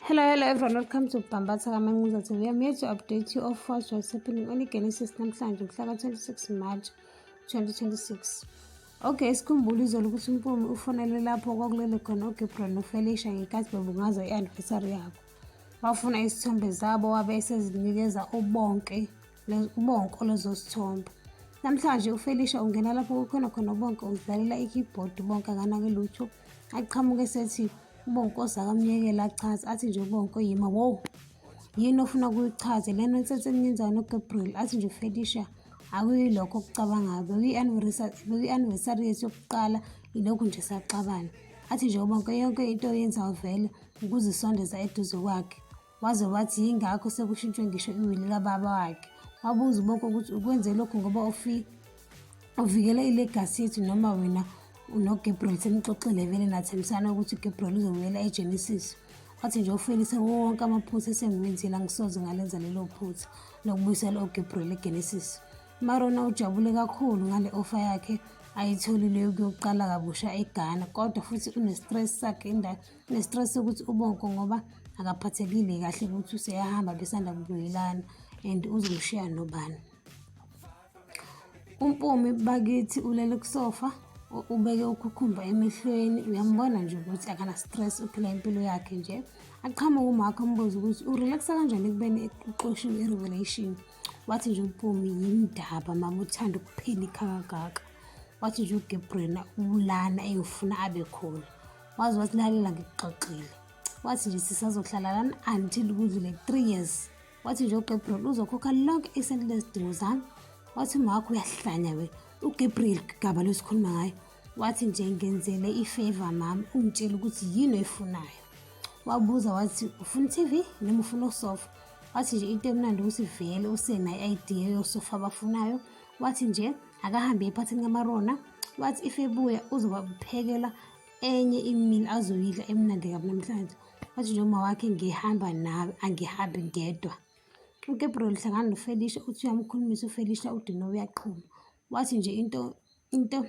Hello, hello everyone. Welcome to Bambatha Kamanguza TV. I'm here to update you of what's happening on Genesis namhlanje mhlaka 26 March 2026. Okay, sikhumbule izolo ukuthi uMpumi ufonele lapho kwakulele khona uGabriel noFelicia ngenkathi bebungaza i-anniversary yabo. Wafuna isithombe zabo wabe esezinikeza ubonke ubonko lozosithomba namhlanje ufelisha ungena lapho kukhona khona ubonke uzidlalela i-keyboard ubonke akanake lutho aqhamuke sethi ubonke ozakamyekela achaze athi nje ubonke yima wow yini ofuna kuyichaze lento ensense eninjani ugabriel athi nje ufelisha akuyilokho okucabangayo bekuyi-anniversary yethu yokuqala ilokhu nje saxabana athi nje ubonke yonke into oyenzayo vele ukuzisondeza eduze kwakhe Waze wathi yingakho sekushintshwe ngisho iwili kababa wakhe. Wabuza uBoko ukuthi ukwenze lokhu ngoba ufi uvikela ilegasi yethu noma wena unoGabriel senixoxile vele nathembisana ukuthi uGabriel uzobuyela eGenesis. Wathi nje ufelise wonke amaphutha esengiwenzile angisoze ngalenza lelo phutha lokubuyisela uGabriel eGenesis. Marona ujabule kakhulu ngale ofa yakhe ayitholileyo kuyoqala kabusha eGhana kodwa futhi unestress sakhe indawo Nesitress ukuthi ubonko ngoba akaphathekile kahle ukuthi useyahamba besanda kubuyelana and uzomshiya nobani. Umpumi bakithi ulele kusofa ubeke ukhukhumba emehlweni uyambona nje ukuthi akana-stress uphila impilo yakhe nje aqhamuke umakho ambuze ukuthi urelaxa kanjani ekubeni uxoshiwe i-revelation wathi nje umpumi yindaba mama uthanda ukuphela ikhakakaka wathi nje ugabriela ubulana eyofuna abe khona waze wasilalela ngikuxoxile wathi nje sisazohlala lana until kudlule three years wathi nje ugabriel uzokhokha lonke isenti lezidingo zami wathi umakho uyahlanya we ugabriel gaba losikhuluma ngayo wathi nje ngenzele ifeva mami ungitshele ukuthi yini oyifunayo wabuza wathi ufuna i-tv noma ufuna usofa wathi nje into emnandi ukuthi vele usenayo i-idea yosofa abafunayo wathi nje akahambe ephathini kamarona wathi if ebuya uzobaphekela enye imini azoyidla emnandi kabi namhlanje wathi nje uma wakhe ngihamba nawe angihambi ngedwa ugabriel hlangana nofelisha uthi uyamkhulumisa ufelisha udino uyaqhuma wathi nje into into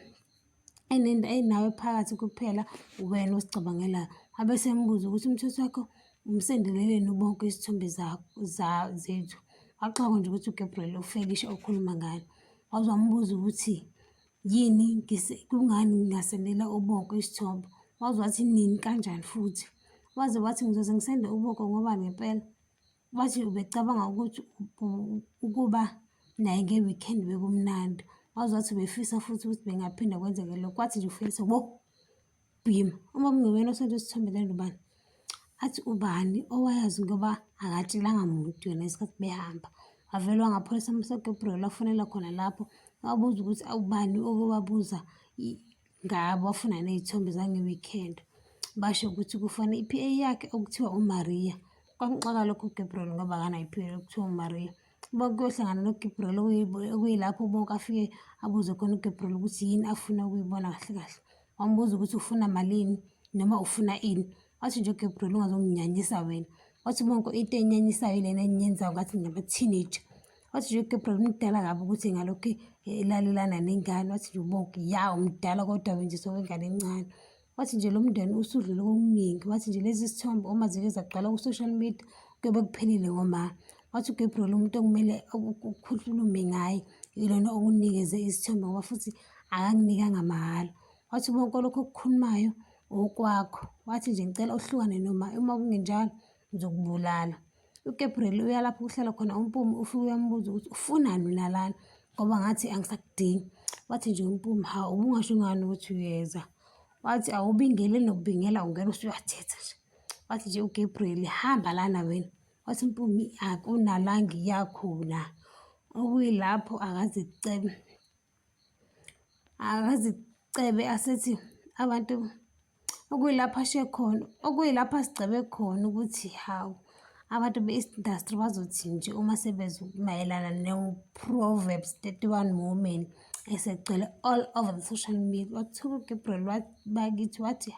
enento enawe phakathi kuphela wena osicabangelayo wabe sembuza ukuthi umthetho wakho umsendeleleni ubonke izithombe zethu waxoka nje ukuthi ugabriel ufelisha okhuluma ngalo waze wambuza ukuthi Yini ngise kungani ngingasendela uboko isithobo? Waze wathi nini kanjani futhi? Waze wathi ngizoze ngisende uboko ngoba ngempela wathi ubecabanga ukuthi ukuba naye nge-weekend bekumnandi. Waze wathi ubefisa futhi ukuthi bengaphinde kwenzeke lokho, wathi nje ufisa bo. Yima uma kungewena osonto esithombele lubani athi ubani owayazi ngoba akatshelanga muntu yona isikhathi behamba avele wangapholisa amasegebrel afonela khona lapho wabuza ukuthi awubani oke wabuza ngabo wafuna ney'thombe zange-weekend basho ukuthi kufana i-p a yakhe okuthiwa umaria kwamxaka lokho ugabriel ngoba akanayo i-p a okuthiwa umaria bonke kuyohlangana noGibril okuyilapho bonke afike abuze khona uGibril ukuthi yini afuna ukuyibona kahle kahle wambuza ukuthi ufuna malini noma ufuna ini wathi nje uGibril ungazonginyanyisa wena wathi bonke into enyanyisayo ilena enyenzayo ngathi ngama-teenager wathi nje uGibril umdala kabi ukuthi ngalokhu elalelana nengane wathi nje ubonke ya umdala kodwa wenje sowengane encane Wathi nje lo mndeni usudlule kokuningi. Wathi nje lezi zithombe uma zike zagcwala ku-social media kuyobe kuphelile ngoma. Wathi uGabriel umuntu okumele ukukhulume ngaye ilona okunikeze isithombe ngoba futhi akanginikanga mahhala. Wathi konke lokho okukhulumayo okwakho. Wathi nje ngicela uhlukane noma uma kungenjalo ngizokubulala. uGabriel uya lapho kuhlala khona uMpumi ufike uyambuza ukuthi ufunani nalana ngoba ngathi angisakudingi wathi nje uMpumi ha ubungasho ngani ukuthi uyeza wathi awubingele nokubingela ungena usuyathetha nje wathi nje uGabriel hamba lana wena wathi uMpumi akunala ngiyakhona okuyilapho akaze kucebe akazicebe asethi abantu okuyilapho ashiye khona okuyilapho asigcebe khona ukuthi hawu abantu be-east industry bazothi nje uma sebezwa mayelana ne-proverbs 31 women esegcwele all over the social media wathuka ugabriel bakithi wathi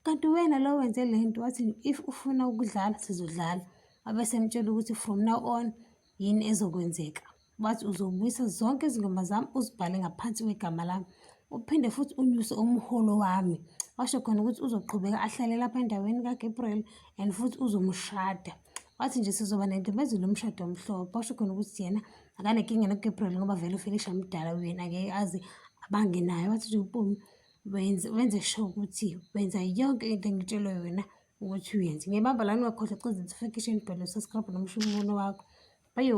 kanti wena lo wenze le nto wathi if ufuna ukudlala sizodlala abesemtshela ukuthi from now on yini ezokwenzeka wathi uzobuyisa zonke izingoma zami uzibhale ngaphansi kwegama lami uphinde futhi unyuse umholo wami washo khona ukuthi uzoqhubeka ahlale lapha endaweni kaGabriel and futhi uzomushada wathi nje sizoba nentembezelo umshado omhlophe washo khona ukuthi yena akanenkinga noGabriel ngoba vele uFelisha mdala uyena ngeke aze abange naye wathi nje umpumi wenze wenze sho ukuthi wenza yonke into engitshelwe yona ukuthi uyenze ngebamba lani wakhohlwa cizithifikishini bhalo saskrabha nomshumuno wakho bayo